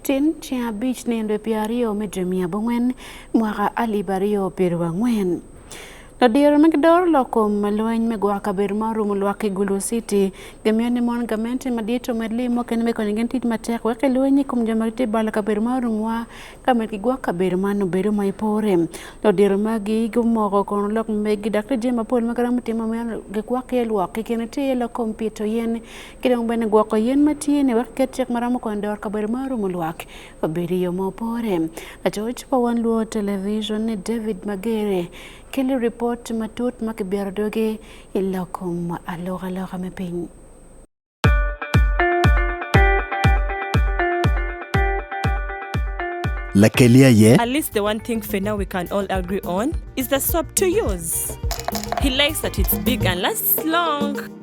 Tin ceng abic nino dwe pyera aryo me dwe mia abongwen mwaka alip aryo piero angwen. Ladiro ma gidoro lok kom ma lweny me gwoko kabedo ma orumo lwak ki Gulu City gimiyo ni mon gamente madit omed lim mukene me konyo gin tit matek wek lweny i kom jo ma gitye balo kabedo ma orumwa ka med gigwok kabedo man obedo ma ipore. Ladiro magi gumoko kono lok megi dok tye jami mapol ma giromo timo ma gigwok iye lwok kikene tye iye lok kom pito yen ki dong bene gwoko yen ma tye ni wek ket cik ma romo konyo doro kabedo ma orumo lwak obedo i yo ma opore lacoc pa wan luo television ni david magere keli ripot matut ma kibiro doge i lokom alokaloka me piny Lakelia ye. At least the one thing for now we can all agree on is the soap to use. He likes that it's big and lasts long.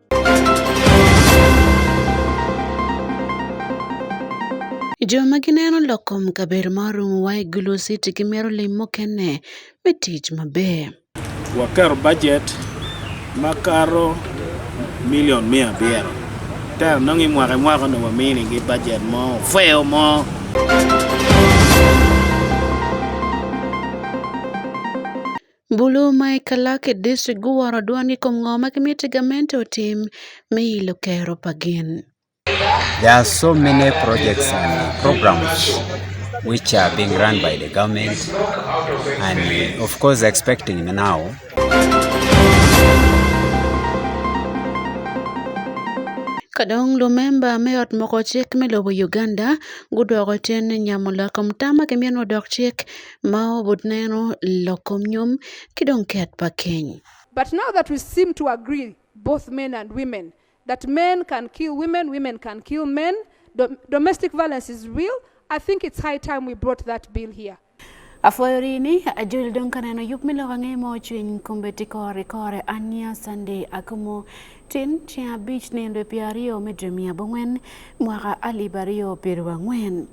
Jo ma gineno lokom kaber ma orumo wa e golo siti gi mero lim mokene me tich maber. Waker budget makaro milion mia abiro. Tero nongi mwaka mwaka no wamini gi budget mo feo mo. Bulu ma e Kalak e distrik guworo dwondgi kuom ng'o ma gimiti gamente otim me ilo kero pa gin. There are so many projects and programs which are being run by the government and of course expecting now kadong lumemba me ot moko cik me lobo Uganda gudwoko tin nyamo loko mutama ki myeno dok cik Mao butneno lokom nyom ki dong ket pa keny. But now that we seem to agree both men and women that men can kill women, women can kill men, dom domestic violence is real, I think it's high time we brought that bill here. Afuoyo rini ajul dong kaneno yup milo wang'e mo chwiny kumbe tikore kore ania Sunday akumo tin cia abich nendwe piario medre mia bong'wen mwaka alip ario piero ang'wen.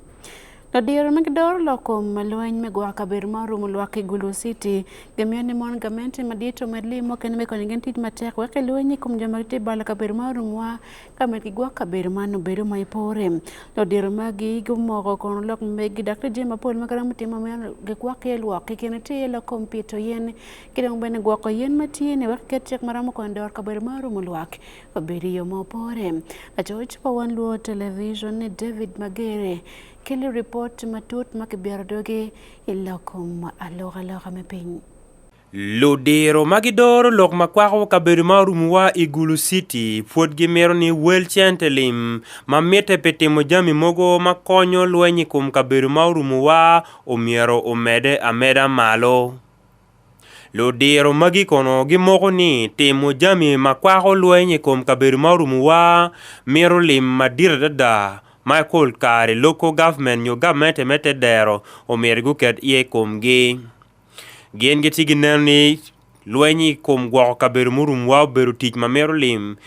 Adier migidor loko malweny migwa kaber ma orumo lwak Igulu City gamiyo ni mon gamente madito med limo kendo mekoni gin tij matek weke lwenyi kuom joma giti bala kaber ma orumwa kamed gigwa kaber ma nobedo ma ipore lodiero magi gumoko kono lok megi dakte je mapol ma karamo timo ma gikwak ye lwak kikene ti ye loko mpito yen kidong bene gwoko yen matiyene wek ket chek maramo kono dor kaber ma orumo lwak Obirio mopore. Achoch pawan luo television ni David Magere kelo report matut ma kibyaro doge iloko ma aloka loka me piny. Ludiro ma gidoro lok ma kwako kabedo ma orumuwa i Gulu City pwod gimito ni wel cente lim ma mitte pi timo jami mogo ma konyo lweny i kom kabedo ma orumuwa omyero omede ameda malo. Ludiro magi kono gimoko ni timo jami ma kwako lweny i kom kabedo ma orumowa mito lim madit adada ma i kul kare loko gavment nyo gavmente me te dero omyero guket iye i komgi. Gin gitye gineno ni lweny i kom gwoko kabedo murumowa obedo tic ma mito lim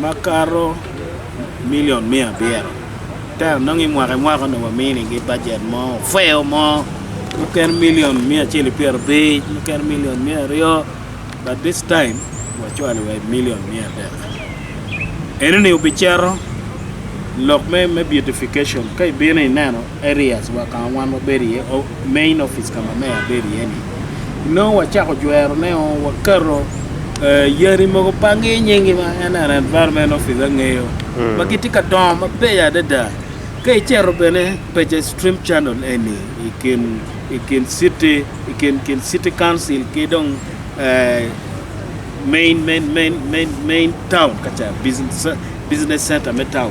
makato milion mia abiro tero nongo i mwaka i mwaka onongo waminigi bajet mo ofeo mo mukene milion mia acel pyero abic mukene milion mia aryo but this time wacwalo wa milion mia adek eno ni obicero lok me me beautification ka ibino ineno areas wa ka wan wabedo iye o- main office ka ma meya bedo iye ni nongo wacako jwero ne o, wakato eh, yadi mogo pa nge nyingi ma en an environment office angeyo Mm. ma gitye ka dongo mabeyo adada ka icero bene peche stream channel eni i kin i kin city i kin kin city council ki dong eh, main main main main main town kacha business business center me town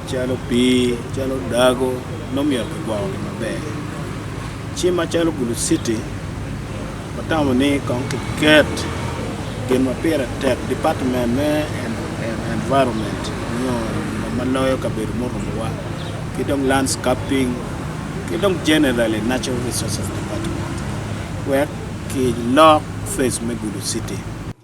Calo pii, calo dago nongo myero kigwoko maber. Ci macalo Gulu City watamo ni kong kiket gin ma pire tek department me environment nyo ma loyo kabedo murumowa ki dong landscaping ki dong generally natural resources department wek kilok face me Gulu City.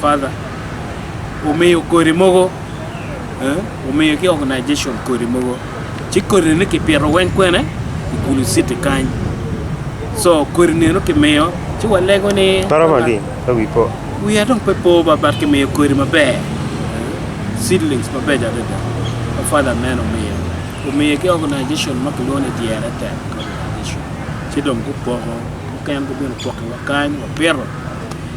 Father, umiyo korimogo, eh, umiyo ki organization korimogo. Ci kori ni ki pito weng kwene i kulu city kany. So kori neno ki miyo, ci walego ni... Paro magi, awi po. We are dong pe po ba bat ki miyo kori maber. Seedlings maber jadada. Ma father man umiyo. Umiyo ki organization ma kiluongo ni Diere Tech organization. Ci dong gupoko, muken gubino poko wa kany, wapiro.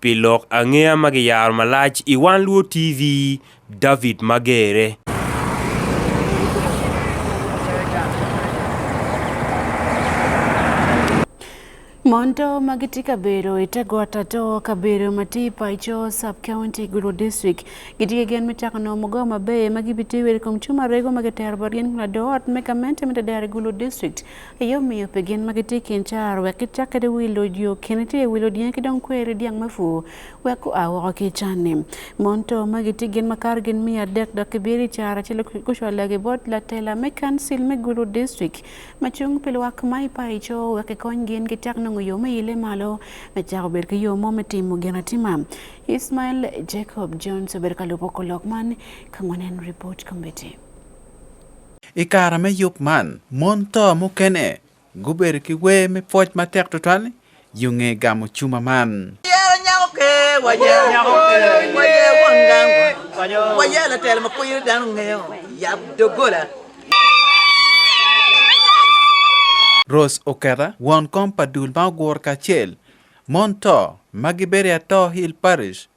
Pi lok angeya ma giyaro malac i One Luo TV, David Magere. Mondo ma gitye ka bedo i te got ato kabedo ma tye i paco sub county Gulu district gitye ki gen me cako nongo mugo maber ma gibitiyo kwede i kom cuma rego ma kitero botgi ni ladot me gamente me Tadero i Gulu district Eyo miyo pe gin ma gitye i kin car wek gicak kede wi loc yo kene tye wi lodinge ki dong kweri dyang me fu wek gua woko ki can-ni. Mon to ma gitye gin makato gin miya adek dok gibiro i car acel gucwalo ki bot latela me kancil me Gulu District ma cung pi lwak ma i paco wek kikony gin gicak nongo yo me ile malo me cako bedo ki yo mo me timo gin atima. Ismael Jacob Jones obedo ka lubo kolok man ka ngwen en report committee. I kare me yub man, mon to mukene gubedo ki wer me pwoc matek tutwal yo nge gamo cuma man. Wayero nyako ke, wayero nyako ke, wayero won gang, wayero latel ma kuyo dano ngeo, yab dogola. Rose Oketa, won kom pa dul ma ogur kacel, mon to ma giberi ato Hill Parish,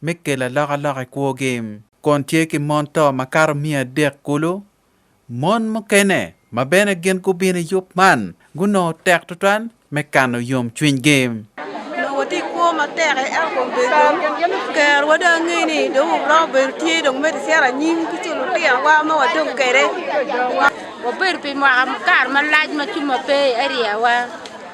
me kelo alokaloka i kwogi. Kun tye ki mon to makato miya adek kulu. Mon mukene ma bene gin gubino i yub man gunongo tek tutwal me kano yomcwinygi. Nongo watye i kwo matek e ento kom bedo kerwa dong angeyo ni dong woromo bedo tye dong medo cito anyim ki co lutinowa ma wadong kwede. Wabedo pi mwaka kare malac ma cuma pe i areawa.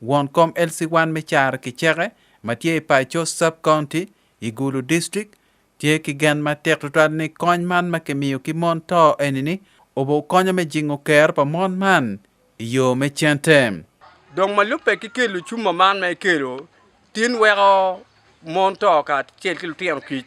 Won kom Elsie Wan me Caro Kiceke ma tye i Paco Sub County i Gulu District tye ki gen matek tutwal ni kony man ma kimiyo ki mon to eni ni obo konyo me jingo kero pa mon man i yo me cente. Dong ma lubbe ki kelo cuma man ma ikelo tin weko mon to kacel ki lutino kic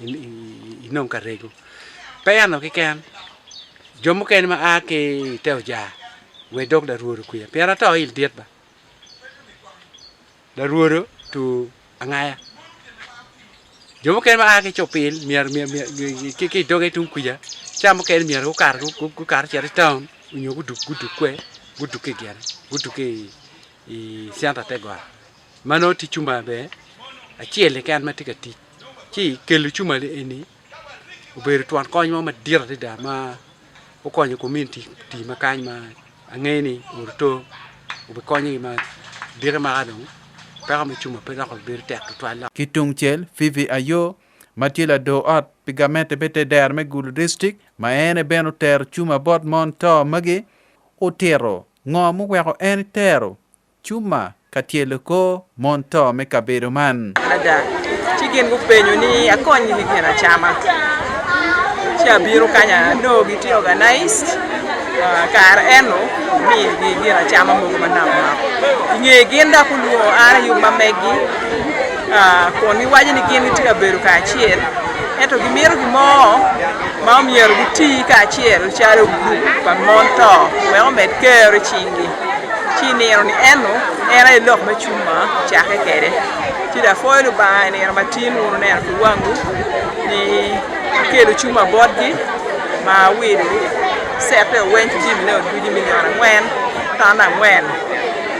inong ka rego pe ano kiken jo mukene ma a ki te oja we dog da ruoro kwiya pien ata oil dit ba da ruoro tu angaya jo mukene ma a ki copil mier mier mier ki ki doge tung kwiya cha mukene mier ku kar ku kar chere town unyo ku duk ku duk kwe ku duk ki gere ku duk ki i sianta te gwa mano ti chumba be achiel ken ma ti ka ti ci kel cuma eni obedo twon kony mo madit adada ma okonyo community ti ma kany ma ang'eyo ni oruto obikonyogi ma dire maka dong peko me cuma pe dok obedo tek tutwal lok Ki tungcel, Fifi Ayo ma tye lador ot pi gamente me te dero me Gulu Distrik ma en aye bene otero cuma bot mon to magi, otito ngo muweko en tero Cuma ka tyelo kor mon to me kabedo man. Ada, ci gin gupenyo ni akony gi gin acama. Ci abiro kanya no gi ti organized ah, kar eno mi gi gin acama mogo ma nam nam. Inge gin da kuluo ara yu ma megi ah, kun giwacho ni gin gitye ka bedo kacel ento gimito gimo ma omyero giti kacel calo grup pa mon to wek omed kero i cinggi. ci nino ni eno en aye lok me cung ma cake kede ci da foyo ni banga i nino matin wunu neno ki wangu ni kelo cung ma botgi ma wido sete oweny ci jimi ne odwiji milion angwen tan angwen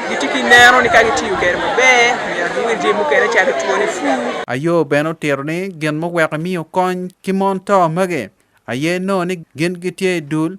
gitye ki neno ni ka gitiyo kede maber myero giwil jimi mukene calo two ni fu ayo bene otiro ni gin muweko miyo kony ki mon to magi aye no ni gin gitye i dul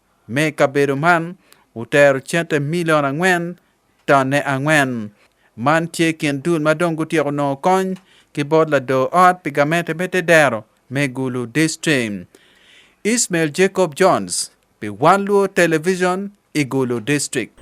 Me kabedo man, wutero cente milion angwen tonne angwen. Man tye kin dul ma dong gutyeko nongo kony ki bot lado ot pi gamente me te dero me Gulu District. Ismail Jacob Jones pi Wan Luo Television i Gulu District.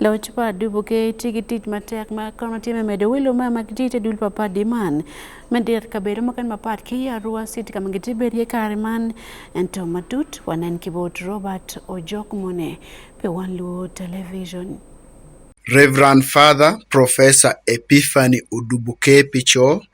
Loch pa dubuke tye ki tic matek ma kono tye me medo welo ma ma gitye te dul papadi man me dit kabedo mukene mapat ki Arua City ka ma gitye bedi iye kare man ento matut wanen ki bot Robert Ojok mone pi wan luo television. Reverend Father Professor Epiphany Odubuke Picho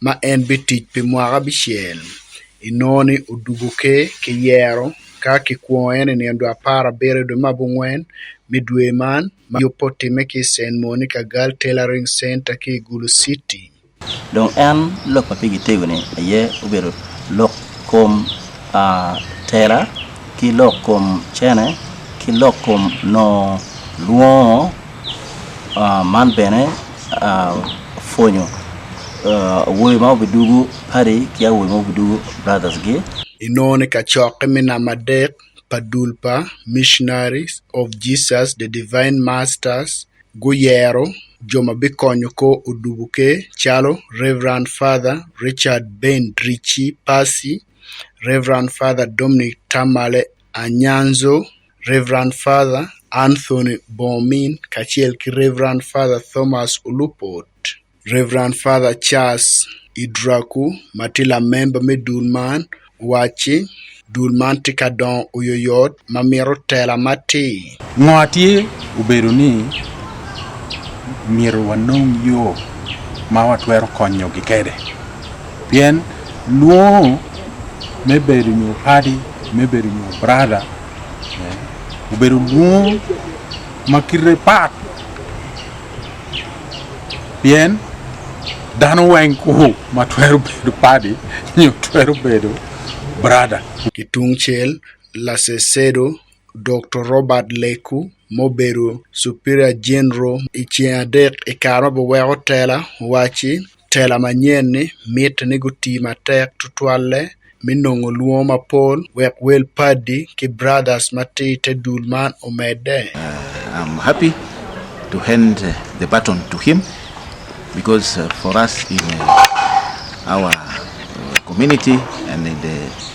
ma en bitic pi mwaka abicel i nongo ni odugo ke ki yero ka ki kwongo en i nino dwe apar abiro i dwe ma abongwen me dwe man ma yubbe otime ki i Saint Monica Gal Tailoring Center ki i Gulu City. Dong en lok ma pigi tego ni aye obedo lok kom uh, tela ki lok kom cene ki lok kom no lwongo Ah, man bene ah, fwenyo ah, wuoyi ma obidugu pari ki awuoyi ma obidugu brothers gi inone ka cokke me namba adek pa dul pa Missionaries of Jesus the Divine Masters guyero jo ma bikonyo ko odubu ke calo Reverend Father Richard Ben Drici Pasi, Reverend Father Dominic Tamale Anyanzo, Rev. Father Anthony Bomin kaachiel gi Rev. Father Thomas Olupot, Rev. Father Charles Idraku matila memba me dul man owaci dul man tye ka dongo oyoyot ma mito tela matir. Ngo tye obedo ni myero wanong yo ma watwero konyogi kede pien lwongo me bedo nyo padi me bedo nyo brada obedo lwongo ma kite pat pien dano weng ku ma twero bedo padi nyo twero bedo brada Kitungcel, Lasesedo Dr. Robert Leku mubedo Superior General i ceng adek i kare ma biweko tela owaci tela manyen ni mitte ni guti matek tutwalle me nongo lwongo mapol wek wel padi ki brothers ma tye i te dul man omedde. Uh, I'm happy to hand the baton to him because uh, for us in uh, our uh, community and in the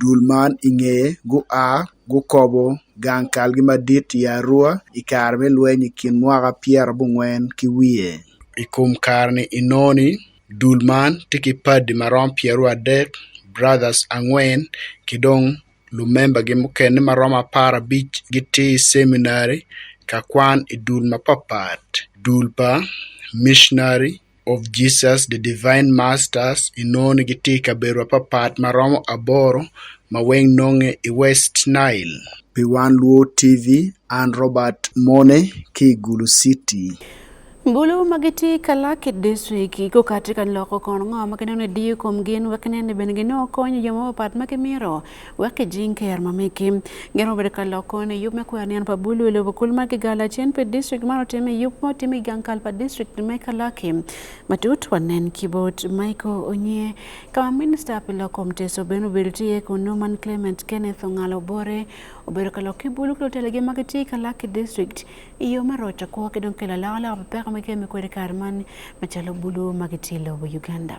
Dul man i nge gua gukobo gang kalgi madit i Arua i kare me lweny i kin mwaka pyera abongwen ki wiye. I kom kare-ni inongo-ni, dul man tye ki padi ma romo pyeraryo adek, Brothers, angwen, ki dong lumembagi mukene ma romo apar abic gitye i ceminary ka kwan i dul mapatpat, dul pa micnary, of Jesus the Divine Masters inon gi tika berwa papat maromo aboro ma weng nong'e i West Nile. Pi wan Luo TV, an Robert Mone ki Gulu City. Bulu ma gitye ka lak i district gukati ka loko kon ngo ma ginongo ediyo kom gin wek nen ni bene ginongo konyo jo mapapat ma gimito wake jing ke yarma meke ngero bere kala kone yup me kuya nian pa bulu le bukul ma ke gala chen pe district maro teme yup mo teme gang kal pa district me kala ke matut wanen kibot maiko onye kama minister pila komte so beno bilti e kono man clement kenneth ngalo bore obere kala ke bulu klo tele ge ma ke ti kala ke district iyo maro ta ko ke don kala la la pe ko me ke me ko de karman machalo bulu ma ke ti lo uganda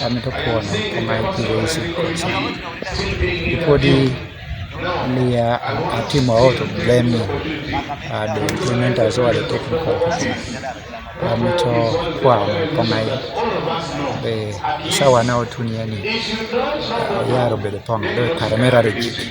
kami to kuon kama ikiwezi ipodi liya atimo auto blame uh, the implement as well the technical kami to kuon kama be sawa na otuniani yaro bede pongo do kare merare jiki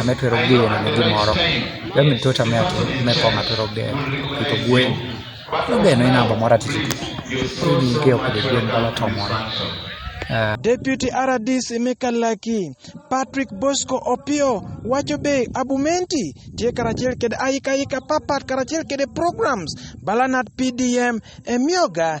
ame twero geno ne gimoro yaani mtoto ame ati ame koma twero geno ito gwen no geno ina ba mora titi ni ke okode gwen bala to mora eh. Deputy RDC Mikalaki Patrick Bosco Opio wacho be Abumenti tie karachiel kede ayika ayika papat karachiel kede programs balanat PDM emioga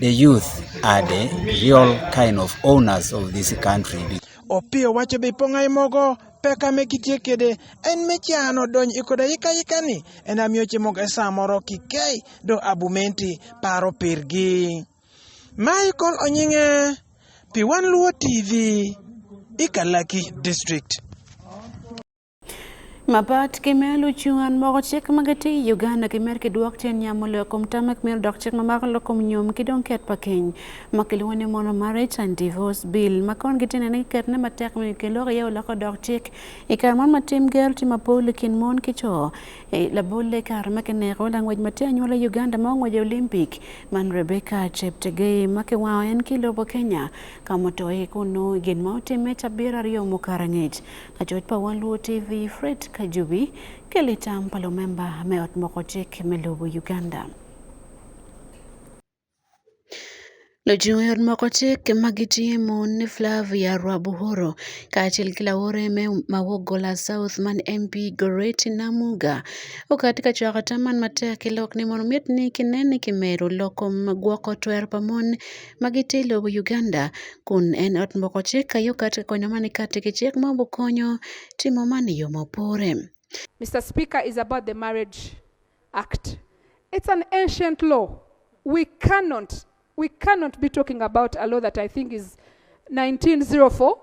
The youth are the real kind of owners of this country. Opio wacho be pongai mogo peka me kitie kede en me chano donj ikoda yika yika ni en amioche mogo e samoro kikei do abumenti paro pirgi. Michael Onyinge, Piwan Luo TV, Ikalaki District. Mapat ki me lucu an moko cik ma gitye i Uganda ki mer kidwok tyen nyamo lok kom tam ma kimito dok cik ma mako lok kom nyom ki dong ket pa keny ma kilwongo ni mono marriage and divorce bill ma kon gitye nene kiketone matek me kiloko iye oloko dok cik i kare mon ma tim gero tye mapol i kin mon ki co e, labolle i kare ma kineko langwec ma tye anyuola i Uganda ma ongwec Olympic man Rebecca Cheptegei ma kiwango en ki lobo Kenya ka mutoye kun nongo gin ma otimme cabiro aryo mukato angec Ajot pa One Luo TV, Fred Kajubi, Kelita Mpalo memba me ot moko chik me lobo Uganda. Lochung' yot moko chik ma gitimo ni Flavia Rwabuhoro kaachiel gi laore me mawuok Gola South man MP Goreti Namuga okati ka chwako taman matek ilok ni mondo miet ni kineni kimero loko gwoko twer pa mon magi te lobo Uganda kun en ot moko cik ka yo kati konyo mani kati ki cik ma bukonyo timo mani yo mopore. Mr. Speaker, is about the Marriage Act. It's an ancient law. We cannot, we cannot be talking about a law that I think is 1904.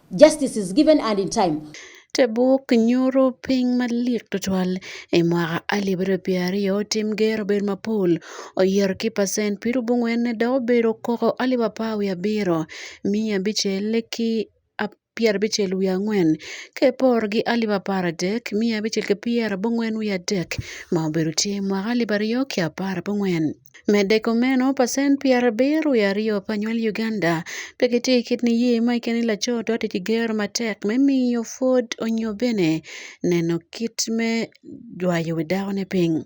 Justice is given and in time. te buk nyuto piny malik tutwal e mwaka alip ariyo piero aryo tim ger obedo mapol oyer ki pacent piero bongwen dok obedo koko alip apar wiye abiro miya abicel ki pyero abicel wiye angwen ka iporo gi alip apar adek miya abicel ki pyero abongwen wiye adek ma obedo tye mwaka alip aryo ki apar abongwen Mede komeno pasen pi arabir wiye aryo pa nywal Uganda pe gitye ki kit niye ma i kine laco twatwati ki gero matek me miyo pwod onyo bene neno kit me jwayo wi dakone piny.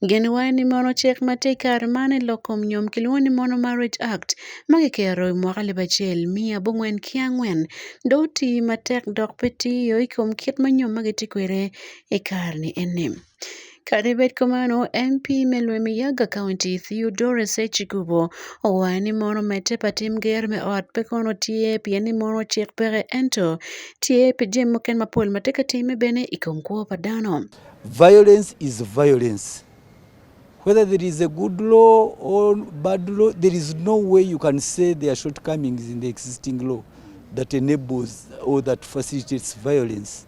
Geni wa ni mono cik ma tye i kare man i lok kom nyom kilwongo ni Mono Marriage Act ma kikero i mwaka alip acel miya abongwen ki angwen do oti matek dok pe tiyo i kom kit ma nyom ma gitye kwede i kare ni eni. Kare bet kamano, MP me Lwemiyaga County Theodore Sechikubo owaye ni mono mete pa tim ger me ot pe kono tye pien ni mono cik peke ento tye pi jami mukene mapol ma tye ka timme bene i kom kwo pa dano. Violence is violence. Whether there is a good law or bad law, there is no way you can say there are shortcomings in the existing law that enables or that facilitates violence.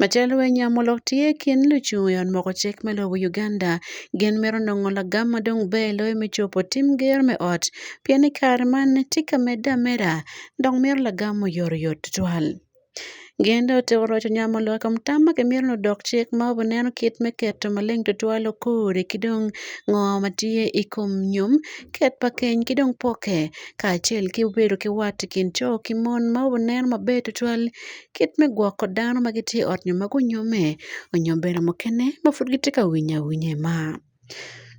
Macalo wee nyamo lok tye kin lucu yon moko cik me lobo Uganda gin mito nongo lagam ma dong ber loyo me cobo tim ger me ot pien i kare man tye ka medde ameda dok mito lagam ma oyotoyot tutwal. Gin dong otiko roco nyamo lok i kom tam ma kimito ni odok cik ma obineno kit me keto maleng tutwal okori ki dong ngo ma tye i kom nyom, ket pa keny ki dong poke kacel ki bedo ki wat i kin co ki mon ma obineno maber tutwal kit me gwoko dano ma gitye i ot nyo ma gunyomme onyo bedo mukene ma pud gitye ka winyo awinya i mar.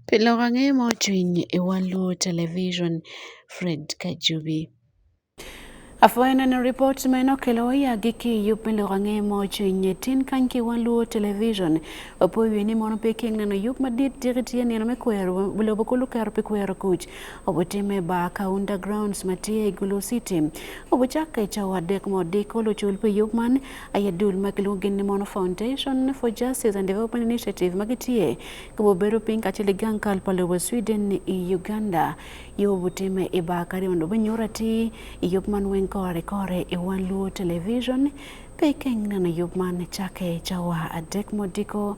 Pi lok ange ma ocwiny i wang luwo television, Fred Kajubi. Apwoyo neno ripot meno kelo ya giki yup me loko ange mo cwinye tin kany ki wan luwo television wapoyo ni mono pe keng neno yup madit tiki tiye nino me kwero lobo kulu kero pe kwero kuc obutime ba ka undergrounds matye i Gulu City obucakke i cawa adek ma odiko lucul pi yub man aye dul ma kilwongo ni Mono Foundation for Justice and Development Initiative ma gitye ka bubedo piny kacel i gang kal pa lobo Sweden i Uganda yo obutime i ba kare mondo binyuto atir i yub man weng kore kore i wan luo television pe ikeng neno yub man cakke i cawa adek ma odiko